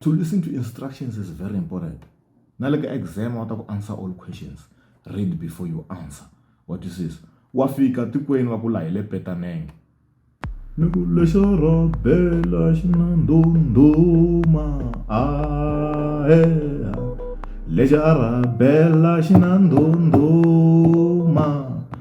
To listen to instructions is very important. Na le ka exam wa ta ku answer all questions. Read before you answer. What is this? Wa fika tikweni va ku la hi le Petaneng. Ni ku lexo robela xinandunduma a he lexi a rabela xinandunduma.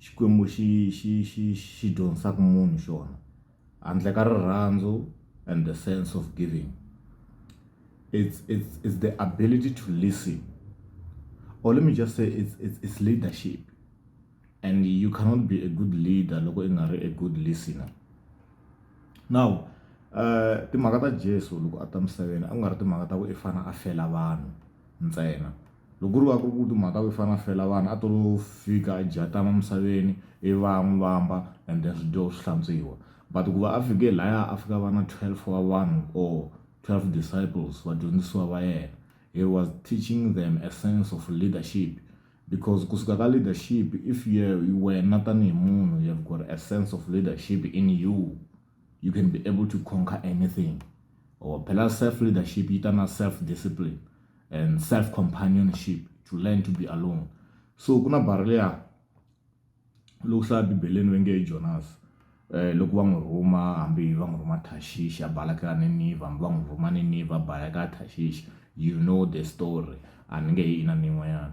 Xikwembu xi xi xi xi dyondzisaka munhu xona handle ka rirhandzu and the sense of giving it's it's it's the ability to listen or let me just say it's it's it's leadership and you cannot be a good leader loko i nga ri a good listener now uh timhaka ta Jesu loko a ta misaveni a ku nga ri timhaka ta ku i fana a fela vanhu ntsena Loko ku ri va ku ri ku timhaka yo fana fela vanhu a to lo fika a dya tama misaveni ivi va ya n'wi vamba and then swi dyiwa swi hlantswiwa but ku va a fike laya a fika va na 12 wa vanhu or 12 disciples vadyondzisiwa va yena he was teaching them a sense of leadership because kusuka ka leadership if you wena tanihi munhu you have got a sense of leadership in you you can be able to conquer anything or oh, phela self leadership yi ta na self discipline and self companionship to learn to be alone so ku na barha leya loku hlaya bibeleni va nge jonas um loko va n'wi rhuma hambi va n'wi rhuma tashishi a balaka niniva hambi va n'wi rhuma niniva a balaka tashishi you know the story a ni nge yi ina ni yin'wanyana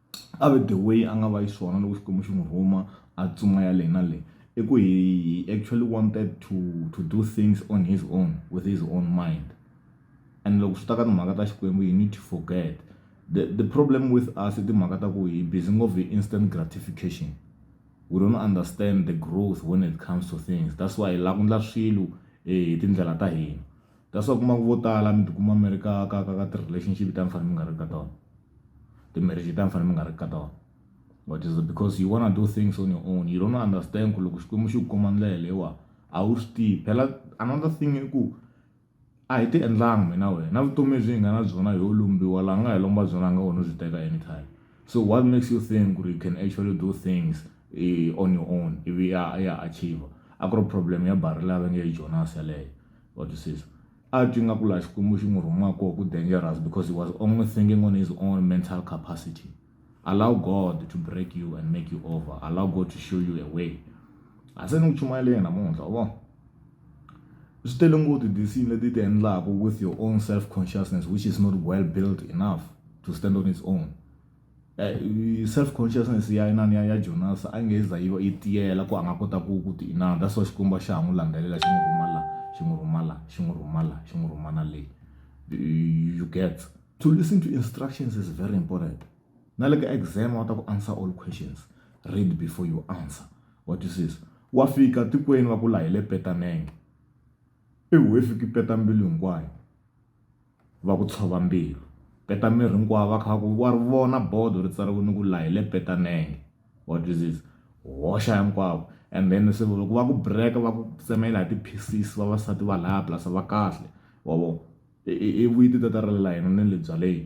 a ve the way a nga va xiswona loko Xikwembu xi n'wi rhuma a tsumaya le na le i ku he he actually wanted to to do things on his own with his own mind and loko swi ta ka timhaka ta Xikwembu you need to forget the the problem with us i timhaka ta ku hi busy ngopfu hi instant gratification we don't understand the growth when it comes to things that's why hi la ku ndla swilo hi tindlela ta hina. That's why u kuma ku vo tala mi tikuma mi ri ka ka ka ka ti-relationship ta mi fanele mi nga ri ka tona ti-marriage ta mi fanele mi nga ri ka tona but is because you wanna do things on your own you don't understand ku loko xikwembu xi ku kuma ndlela leyiwa a wu swi tivi phela another thing i ku a hi ti endlanga mina wena na vutomi lebyi hi nga na byona hi yo lombiwa laha nga hi lomba byona a nga wena u byi teka anytime so what makes you think ku ri you can actually do things on your own ivi ya ya achiever a ku ri problem ya barrel a va nge i jonas yeleyo. wa twisisa a twi nga ku laha xikwembu xi n'wi rhuma koho ku dangerous because he was only thinking on his own mental capacity allow god to break you and make you over allow god to show you a way a se ni ku chumayeleni namuntlha u vona swi tele ngoti disini leti ti endlaka with your own self consciousness which is not well built enough to stand on its own Eh, self consciousness ya inani ya ya jonas a nge za yi va yi tiyela ku a nga kota ku ku ti inana that's why xikwembu xa ha n'wi landzelela xi n'wi rhumala xi n'wi rhumala xi n'wi rhumala xi n'wi rhumana leyi you get to listen to instructions is very important na le ka exam wa ta ku answer all questions read before you answer what you says wa fika tikweni va ku la hi le petanenge i wefiki peta mbilu hinkwayo va ku tshova mbilu. Petameri hinkwavo va kha va ku wa ri vona bodo ri tsariwile ku laha hi le Petanenge wa twisisa hoxa hinkwavo and then se loko va ku break-a va ku tsemela hi ti-pieces vavasati va laya plus va kahle wa vo i i i vuyile ti ta ta rila hina na le byaleni.